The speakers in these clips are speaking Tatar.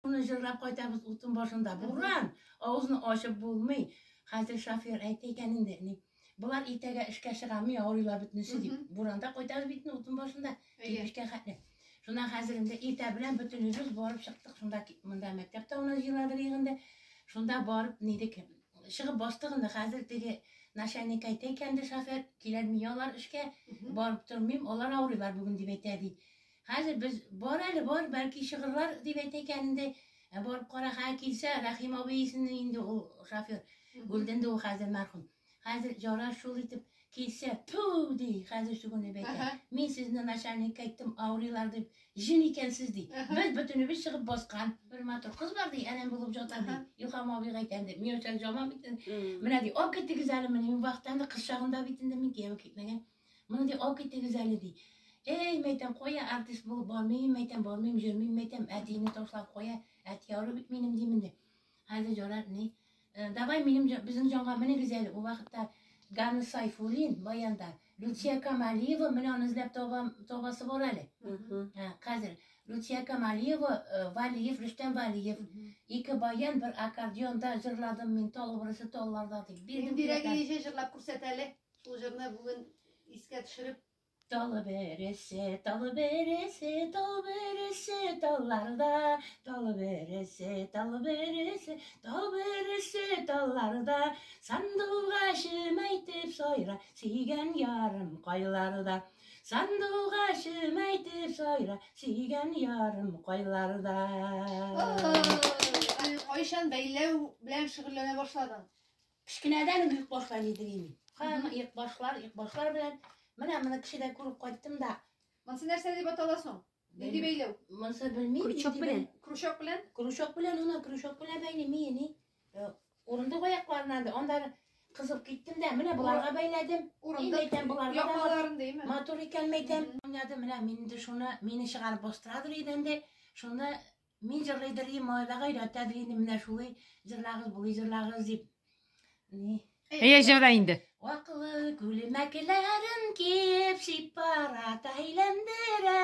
Шуны җырлап кайтабыз утын башында. Буран! Авызны ачып булмый. Хәзер шофер әйтә икән инде, ни. Болар иртәгә эшкә чыгамы, авырыйлар бөтенесе дип. Буранда кайтабыз бит инде утын башында. Кирпечкә хәтле. Шуннан хәзер инде иртә белән бөтенебез барып чыктык. Шунда монда мәктәп тавына җыйладык инде. Шунда барып нидек чыгып бастык инде. Хәзер теге начальник әйтә икән ди шофер, киләлми алар эшкә, барып тормыйм, алар авырыйлар бүген дип әйтә ди. Хәзер без, бар әле, бар, бәлки чыгырлар, дип әйтә икән инде. Ә барып кара, хә килсә, Рәхим абый исемле инде ул шофер. Гөлденде ул хәзер мәрхүм. Хәзер ярар шул итеп килсә, ту, ди, хәзер сүгенеп әйтә. Мин сезне начальникка әйттем, авырыйлар дип, җен икәнсез, ди. Без бөтенебез чыгып баскан. Бер матур кыз бар, ди, әнәм булып ята, ди. Илһам абыйга әйтәм, ди, Миләүшәне җаман бит. Менә, ди, алып китегез әле, менә мин бактан да кыз чагында бит инде мин кияүгә китмәгән. Моны ди ак итегез әле ди. Эй, мәйтәм, кая артист булып бармыйм, мәйтәм, бармыйм, җөрмим, мәйтәм, әтине ташлап кая, әти яры бит минем димен ди. Хәзер җорар ни? Э, давай минем безнең җанга менегез әле. Ул вакытта Ганы Сайфулин баянда, Люция Камалиева менә аны эзләп табам, табасы бар әле. Ә, хәзер Люция Камалиева, э, Валиев, Рөстәм Валиев, ике баян бер аккордеонда җырладым мин тал образы талларда дип. Бирдем. Бирәгә җырлап күрсәт әле. Шул җырны бүген искә төшереп Талы бересе, талы бересе, талы бересе, талларда, талы бересе, талы бересе, талы бересе, талларда, сандуға шөмәйтеп сайра, сүйген ярым кайларда. Сандуға шөмәйтеп сайра, сүйген ярым кайларда. Кайшан бәйләү белән шөгыльләнә башладың? Кечкенәдән үк йөк башлар идем мин. Һәм йөк башлар, йөк башлар белән менә моны кешедә күреп кайттым да. Монсы нәрсә дип атала соң? Нинди бәйләү? Монсы белмим. Крючок белән. Крючок белән? Крючок белән, аны крючок белән бәйлим мени. Э, Урындык аякларына да анда кызып киттем дә, менә буларга бәйләдем. Урындык әйтәм буларга. Япаларын димме? Матур икән мәйтәм. Уйнады менә мин инде шуны, мине чыгарып бастырадыр идәндә. Шуны Мин җырлый дерлим, малайлар гайрәт әзли, инде менә шулай җырлагыз, булый җырлагыз дип. Ни? Әйе, җырла инде. Аклы күлмәкләрен киеп сипарат әйләндерә,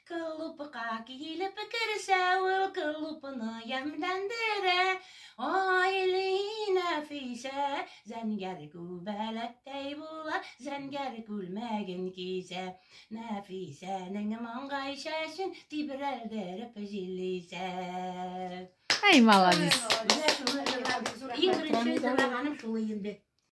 клубка килеп керсә ул клубны ямьләндерә. Айли нәфисә, зәнгәр күбәләктәй була, зәнгәр күлмәген кисә. Нәфисәнең маңгай чәчен тибрәлдереп җиллисә. Әй, молодец. Менә шуны җырлаган, иң беренче җырлаганым шул инде.